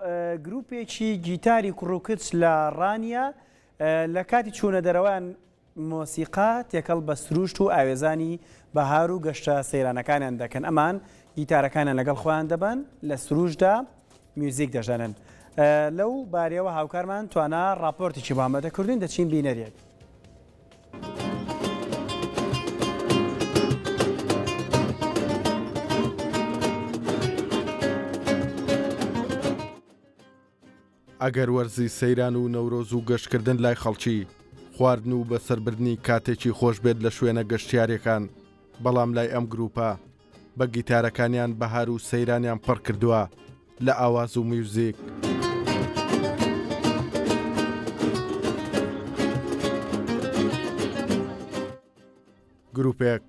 گروپێکی گیتاری کوڕ و کچ لە ڕانیە لە کاتی چوونە دەرەوەیان مۆسیقا تێکەڵ بە سروشت و ئاوێزانی بەهار و گەشتە سەیرانەکانیان دەکەن ئەمان گیتارەکانیان لەگەڵ خۆیان دەبەن لە سروشدا میوزیک دەژەنن لەو بارەوە هاوکارمان توانا راپۆرتێکی بامەدە کردوین دەچین بینەرێک. ئەگەر وەرزی سەیران و نەورۆز و گەشتکردن لای خەڵکی خواردن و بەسەربردنی کاتێکی خۆش بێت لە شوێنە گەشتیارەکان بەڵام لای ئەم گروپە بە گیتارەکانیان بەهار و سەیرانیان پڕ کردووە لە ئاواز و میوزیک. گروپێک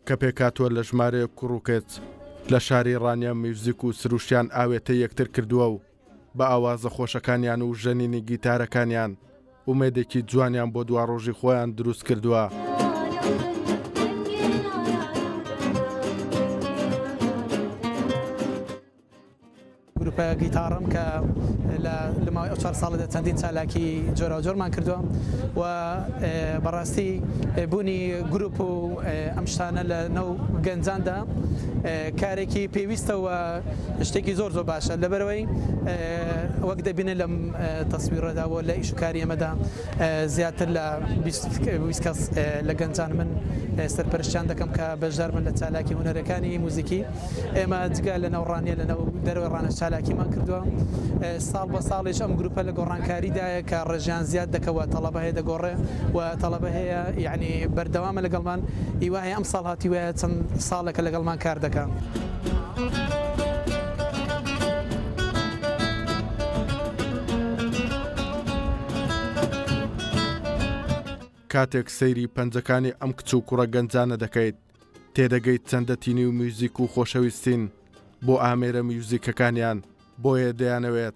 کە پێکاتوە لە ژمارەیە کوڕوکێت لە شاری ڕانیە میوزیک و سروشیان ئاوێتە یەکتر کردووە و بە ئاوازە خۆشەکانیان و ژەنینی گیتارەکانیان ئومێدێکی جوانیان بۆ دواڕۆژی خۆیان دروست کردووە. گروپە گیتاڕم کە لە لەماوەی ئەو چوار ساڵەدا چەندین چالاکی جۆراوجۆرمان کردووە و بەڕاستی بوونی گروپ و ئەم شتانە لە ناو گەنجاندا کارێکی پێویستەوە شتێکی زۆر زۆر باشە لەبەرەوەی وەک دەبینێت لەم تەسویرەدا و لە ئیشکاری ئەمەدا زیاتر لە کەس لە گەنجان من سەرپەرشتیان دەکەم کە بەشدار بن لە چالاکی هوەرەکانی موزیکی ئێمە جگە لە نەوڕانیە لە نەوە دەروی ڕانە چالاکیمان کردووە ساڵ بە ساڵیش ئەم گروپە لە گۆڕانکاریدایە کە ڕژیان زیاد دەکەوە تەڵەبە هەیە دەگۆڕێ و تەڵەبە هەیە یعنی بەردەوامە لەگەڵمان هیواهەیە ئەم ساڵ هاتی وایە چەند ساڵێکە لەگەڵمان کار دەکەم. کاتێک سەیری پەنجەکانی ئەم کچ و کوڕە گەنجانە دەکەیت تێدەگەیت چەندە تینی و میوزیک و خۆشەویستین بۆ ئامێرە میوزیکەکانیان بۆیە دەیانەوێت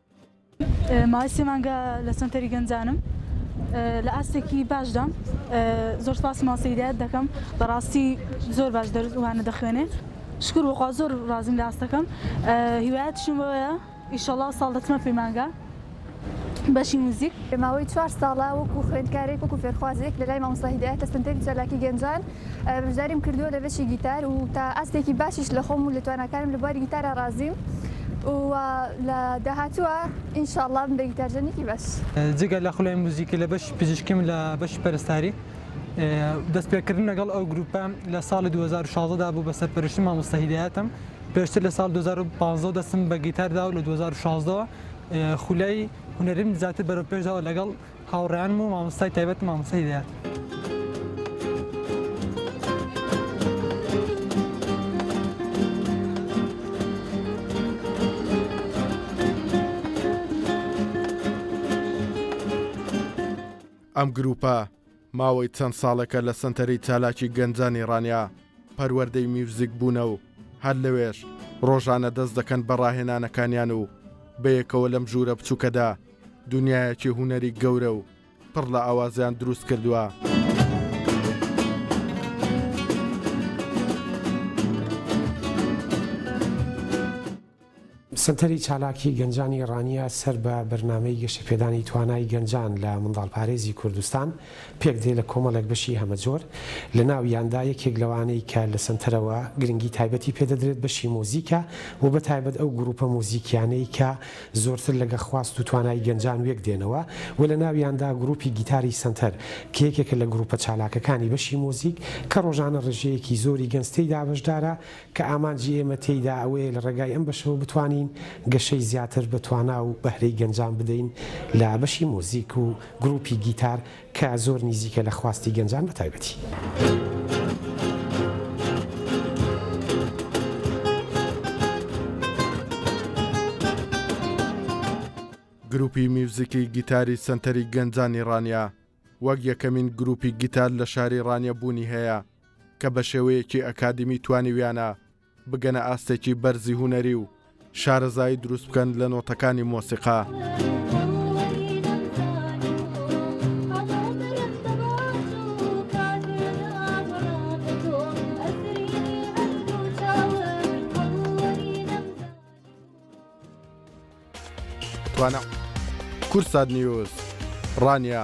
ماوەی سێ مانگە لە سەنتەری گەنجانم لە ئاستێکی باشدام زۆر سپاس ماسیدایەت دەکەم بەڕاستی زۆر باش دەرزوانە دەخوێنێ شکر وەخوا زۆر ڕازیم لە ئاستەکەم هیوایەت شمەوەیە ئیشەڵا ساڵ دەچمە پەیمانگە بەشی موزیک ماوەی چوار ساڵە وەکو خوێندکارێک وەکو فێرخوازێک لە لای مامۆستا هیدایەتە سنتەری چالاکی گەنجان بەشداریم کردووە لە بەشی گیتار و تا ئاستێکی باشیش لە خۆم و لە تواناکانم لە بواری گیتارە ڕازیم و لە داهاتووە ئینشاءاللە بم بە گیتارژەنێکی باش. جگە لە خولای موزیکی لە بەشی پزیشکیم لە بەشی پەرستاری. دەستپێکردن لەگەڵ ئەو گرووپە لە ساڵی دوو هەزار و شازدە دا بوو بە سەرپەرشتی مامۆستا هیدایەتم، پێشتر لە ساڵی دوو هەزار و پازدە دەستم بە گیتار دا و لە دوو هەزار و شازدە وە خولای هونەریم زیاتر بەرەوپێش داوە لەگەڵ هاوڕێیانم و مامۆستای تایبەتم مامۆستا هیدایەت. ئەم گرووپە ماوەی چەند ساڵێکە لە سەنتەری چالاکی گەنجانی ڕانیە پەروەردەی میوزیک بوونە و هەر لەوێش ڕۆژانە دەست دەکەن بە ڕاهێنانەکانیان و بەیەکەوە لەم ژوورە بچووکەدا دنیایەکی هونەری گەورە و پڕ لە ئاوازیان دروست کردووە. سەنتەری چالاکی گەنجانی ڕانیە سەر بە بەرنامەی گەشەپێدانی توانای گەنجان لە منداڵپارێزی کوردستان پێکدێ لە کۆمەڵێک بەشی هەمەجۆر لە ناویاندا یەکێک لەوانەی کە لە سەنتەرەوە گرنگی تایبەتی پێ دەدرێت بەشی مۆزیکە و بە تایبەت ئەو گروپە مۆزیکیانەی کە زۆرتر لەگە خواست و توانای گەنجان وێک دێنەوە و لە ناویاندا گروپی گیتاری سەنتەر کە یەکێکە لە گروپە چالاکەکانی بەشی مۆزیک کە ڕۆژانە ڕێژەیەکی زۆری گەنج تێیدا بەشدارە کە ئامانجی ئێمە تێیدا ئەوەیە لە ڕێگای ئەم بەشەوە بتوانین گەشەی زیاتر بە توانا و بەهرەی گەنجان بدەین لە بەشی موزیک و گروپی گیتار کە زۆر نیزیکە لە خواستی گەنجان بە تایبەتی. گروپی میوزیکی گیتاری سەنتەری گەنجانی ڕانیە وەک یەکەمین گروپی گیتار لە شاری ڕانیە بوونی هەیە کە بە شێوەیەکی ئەکادیمی توانیویانە بگەنە ئاستێکی بەرزی هونەری و شارەزایی دروست بکەن لە نۆتەکانی مۆسیقا. توانە کورسات نیوز ڕانە